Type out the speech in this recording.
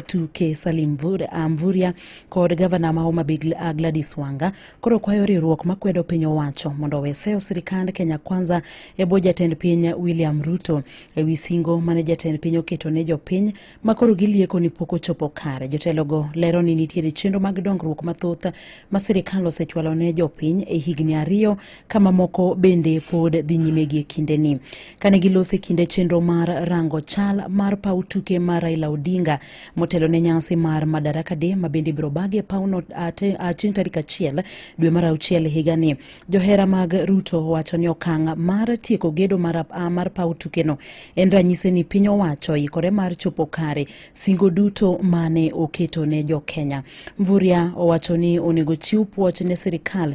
tuke Salim ah, Mvurya kod gavana ma Homa Bay ah, Gladys Wanga koro kwayo riwruok makwedo piny owacho mondo owe seyo sirikand Kenya Kwanza e bwo jatend piny William Ruto e wi singo mane jatend piny oketo ne jopiny ma koro gilieko ni pok ochopo kare. Jotelogo lero ni nitiere chenro mag dongruok mathoth ma sirikal osechwalo ne jopiny e higni ariyo ka mamoko bende pod dhi nyime gie kindeni. Kane gilose kinde chenro mar rango chal mar paw tuke mar Raila Odinga motelo ne nyasi mar Madaraka Day ma bende ibiro bag e pawno chieng' tarik achiel dwe mar auchiel higani. Johera mag Ruto wacho ni okang' mar tieko gedo mar, mar paw tukeno en ranyisi ni piny owacho ikore mar chopo kare singo duto mane oketo ne jo Kenya. Mvurya owacho ni onego chiw puoch ne sirikal